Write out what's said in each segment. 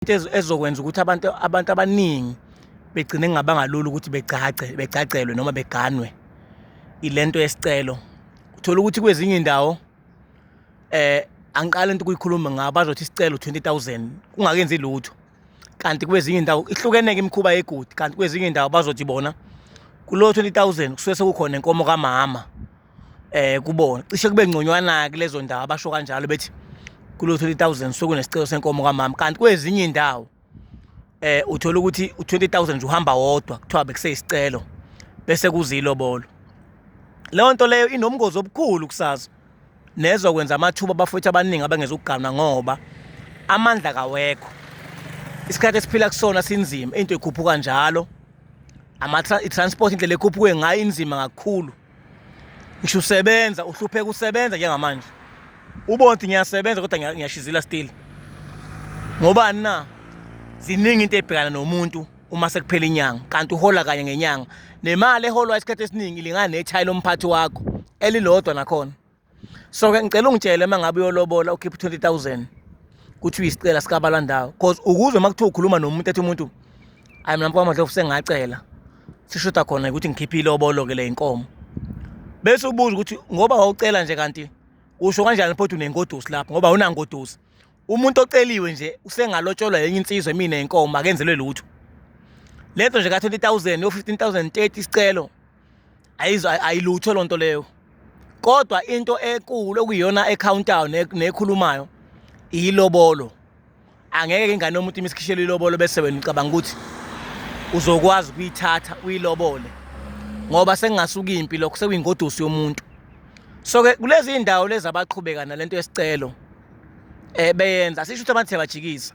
into ezokwenza ukuthi abantu abantu abaningi begcine ngabangalula ukuthi begcagce begcagcelwe noma beganwe ilento yesicelo uthola ukuthi kwezinye indawo eh angiqala into kuyikhuluma ngabo bazothi isicelo 20000 kungakenzi lutho kanti kwezinye indawo ihlukeneke imikhuba yegudi kanti kwezinye indawo bazothi bona kulo 20000 kusuke sekukhona inkomo kamama eh kubona cishe kube ngconywana kulezo ndawo abasho kanjalo bethi kulo 30000 sokunesicelo senkomo kamama kanti kwezinye indawo eh uthola ukuthi u20000 nje uhamba wodwa kuthiwa bekuseyisicelo bese kuzilobolo leyo nto leyo inomngozi obukhulu kusazo nezwa kwenza amathuba abafowethu abaningi abangezukuganwa ngoba amandla kawekho isikhathi esiphila kusona sinzima into ikhuphuka njalo ama transport indlela ekhuphuke ngayo inzima kakhulu ngisho usebenza uhlupheka usebenza njengamanje ubona ukuthi ngiyasebenza kodwa ngiyashizila still ngobani na ziningi into ebhekana nomuntu uma sekuphela inyanga kanti uhola kanye ngenyanga nemali eholwa isikhathi esiningi ilingana nethayi lomphathi wakho elilodwa nakhona so ke ngicela ungitshele uma ngabe uyolobola ukhipha u-twenty thousand kuthiwa isicela sikabalandawo cause ukuze uma kuthiwa ukhuluma nomuntu ethi umuntu ayi mina mfakamadlovu sengacela sishoda khona ukuthi ngikhiphe ilobolo ke le inkomo bese ubuza ukuthi ngoba wawucela nje kanti usho kanjani phothi unengodusi lapho ngoba unangodusi umuntu oceliwe nje usengalotsholwa yenye insizwa mina inkomo akenzelwe lutho lento nje ka-20000 yo-15000 30 isicelo ayilutho loo nto leyo kodwa into ekulu okuyiyona ekhawuntayo nekhulumayo iyilobolo angeke ke ingane yomuntu imisikhishelwe ilobolo bese wena ucabanga ukuthi uzokwazi ukuyithatha uyilobole ngoba sengingasuka impi lokho sekuyingodusi yomuntu so ke kulezi indawo lezi abaqhubeka nalento yesicelo eh beyenza sisho ukuthi abantu siyabajikisa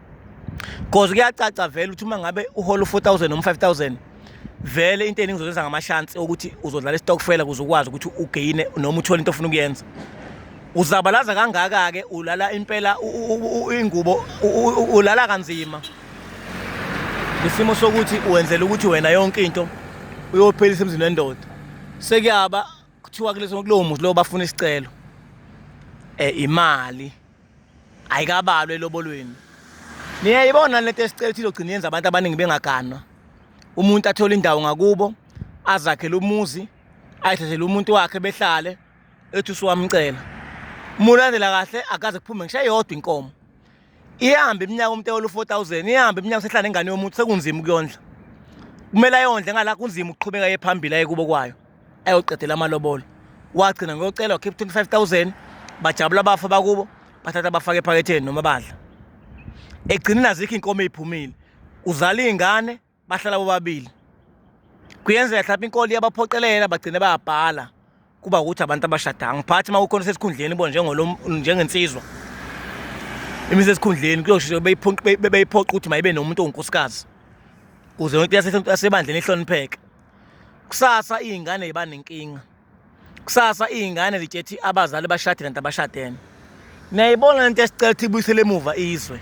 cause kuyacaca vele ukuthi uma ngabe uhola u-4000 noma 5000 vele into eningi uzozenza ngamashansi okuthi uzodlala istokfela kuze ukwazi ukuthi ugeyine noma uthole into ofuna ukuyenza uzabalaza kangaka-ke ulala impela ingubo ulala kanzima isimo sokuthi wenzela ukuthi wena yonke into uyophelisa emzini wendoda sekuyaba kuthiwa kuleso kulowo muzi lowo bafuna isicelo um imali ayikabalwe elobolweni niyayibona lento esicela ukuthi izogcina yenza abantu abaningi bengaganwa umuntu athole indawo ngakubo azakhele umuzi ayithathele umuntu wakhe behlale ethi usuwamcela mulandela kahle akaze kuphume ngisho eyodwa inkomo ihambe iminyaka umuntu ewolu 4000 ihambe iminyaka sehlala ingane yomuntu sekunzima ukuyondla kumele ayondle ngala kunzima ukuqhubeka yephambili ayekubo kwayo ayoqedela amalobolo wagcina ngiyocela wakhipha twenty five thousand bajabula abafa bakubo bathatha bafake ephaketheni noma badla egcineni azikho inkomo eyiphumile uzala iy'ngane bahlala bobabili kuyenzeka mhlawumbe inkolo iyabaphoqelela bagcine bayabhala kuba ukuthi abantu abashadanga ngiphathi uma kukhona sesikhundleni bo njengensizwa imise esikhundleni kuyosho beyiphoqa ukuthi mayibe nomuntu ongunkosikazi kuze yonke into yasebandleni ihlonipheke kusasa iy'ngane yiba nenkinga kusasa iy'ngane zitshethi abazali bashade kanti abashadene niyayibona lento esicela ukuthi ibuyisele emuva izwe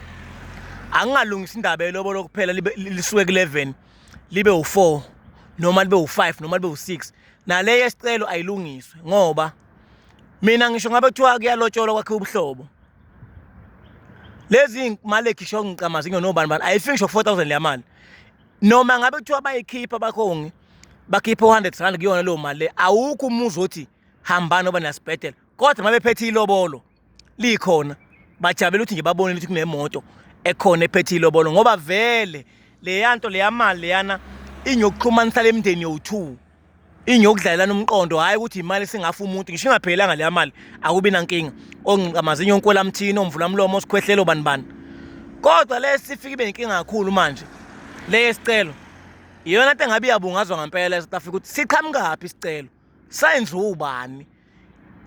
angingalungisa indaba yelobolo kuphela lisuke ku-11 libe u-4 noma libe u-5 noma libe u-6 naleyo esicelo ayilungiswe ngoba mina ngisho ngabe kuthiwa kuyalotsholwa kwakhe ubuhlobo lezi mali ekhisho ngicamazi nginobani bani ayifiki ngisho ku-4000 leyamali noma ngabe kuthiwa bayikhipha abakhongi bakhiphe u-hundred rand kuyona leyo mali le awukho umuzi othi hambani oba nasibhedela kodwa uma bephethe ilobolo likhona bajabela ukuthi nje babonile ukuthi kunemoto ekhona ephethe ilobolo ngoba vele leya nto leya mali leyana inyokuxhumanisa le mndeni yowu-two ingiyokudlalelana umqondo hhayi ukuthi imali singafa umuntu ngisho ingaphelelanga leya mali akubi nankinga ongqamazinyo onkwelamthini omvula mlomo osikhwehlelo bani bani kodwa le sifike ibe inkinga kakhulu manje le yesicelo iyona nto engabe iyabungazwa ngempela e-south africa ukuthi siqhamukaphi isicelo sayenziwa ubani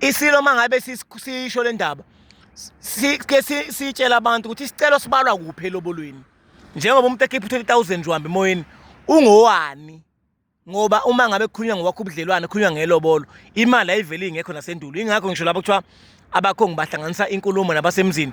isilo uma ngabe sisho le ndaba sike sitshela abantu ukuthi isicelo sibalwa kuphi elobolweni njengoba umuntu ekhipha u-20 000 nje uhamba emoyeni ungowani ngoba uma ngabe kukhulunywa ngokwakho ubudlelwane kukhulunywa ngelobolo imali ayiveli ingekho nasendulo ingakho ngisho labo kuthiwa abakho ngibahlanganisa inkulumo nabasemzini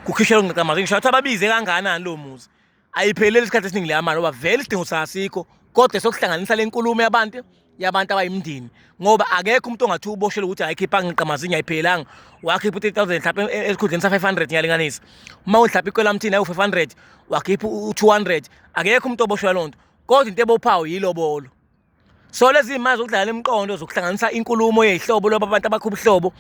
kukhishela ungqaqamazi ngisho ukuthi ababize kangakanani lo muzi ayipheleli isikhathi esiningi leya mali ngoba vele isidingo sasikho kodwa sokuhlanganisa le nkulumo yabantu yabantu abayimndeni ngoba akekho umuntu ongathi uboshele ukuthi ayikhipha ngiqamazi ngiyayiphelanga wakhipha u-3000 mhlawumbe e, e, esikhundleni sa-500 ngiyalinganisa uma uhlapha ikwelamthini ayi-500 wakhipha u-200 akekho umuntu oboshelwa loo nto kodwa into ebophayo yilobolo so lezi zimali zokudlala imiqondo zokuhlanganisa inkulumo yehlobo loba abantu abakho ubuhlobo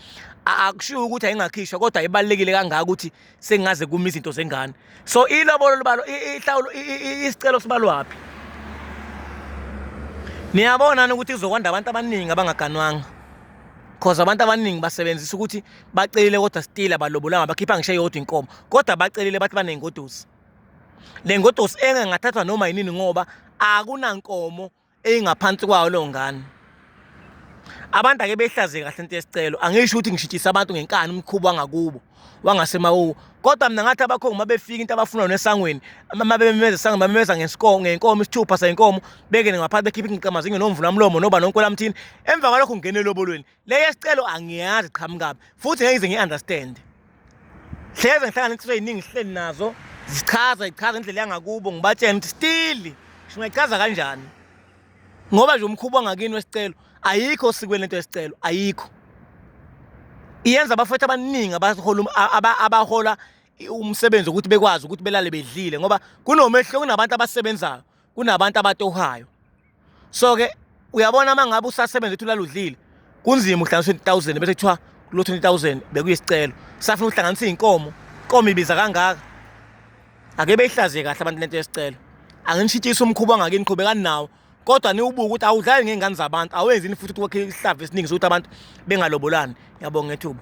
akushiwo ukuthi ayingakhishwa kodwa ibalekile kangaka ukuthi sengaze kuma izinto zengane so ilobolo libalo ihlawulo isicelo sibalwaphi niyabona ukuthi kuzokwanda abantu abaningi abangaganwanga cause abantu abaningi basebenzisa ukuthi bacelile kodwa still abalobolanga bakhipha ngisho eyodwa inkomo kodwa bacelile bathi banengodusi le ngodosi engangathathwa noma yinini ngoba akunankomo eyingaphansi kwayo leyo ngane abantu ake behlaze kahle into yesicelo angisho ukuthi ngishitshisa abantu ngenkani umkhubo wangakubo wangasemawuwo kodwa mina ngathi abakhongi uma befika into abafuna yona esangweni uma bememeza esangweni bamemeza ngenkomo ngenkomo isithupha senkomo bengene ngaphansi bekhiphe ingqiqamazinyo nomvulamlomo noba nonkolamthini emva kwalokho ngingene elobolweni le yesicelo angiyazi qhamukabi futhi ngeke ngize ngi-understand hleze ngihlangana insizwa eyiningi sihleli nazo zichaza ichaza indlela yangakubo ngibatshena ukuthi still singayichaza kanjani ngoba nje umkhuba ongakini wesicelo ayikho osikweni lento yesicelo ayikho iyenza abafethu abaningi abahola umsebenzi ukuthi bekwazi ukuthi belale bedlile ngoba kunomehluko kunabantu abasebenzayo kunabantu abatohayo so ke uyabona uma ngabe usasebenza uthi ulaludlile kunzima uhlanganisa 20000 bese kuthiwa lo 20000 bekuyisicelo safuna uhlanganisa izinkomo inkomo ibiza kangaka ake beyihlaziye kahle abantu lento yesicelo anginishitshisa umkhuba ongakini qhubekani nawo kodwa niwubuke ukuthi awudlali ngey'ngane zabantu awenzini futhi ukuthi wakhe isihlava esiningi sokuthi abantu bengalobolani ngiyabonga ngethuba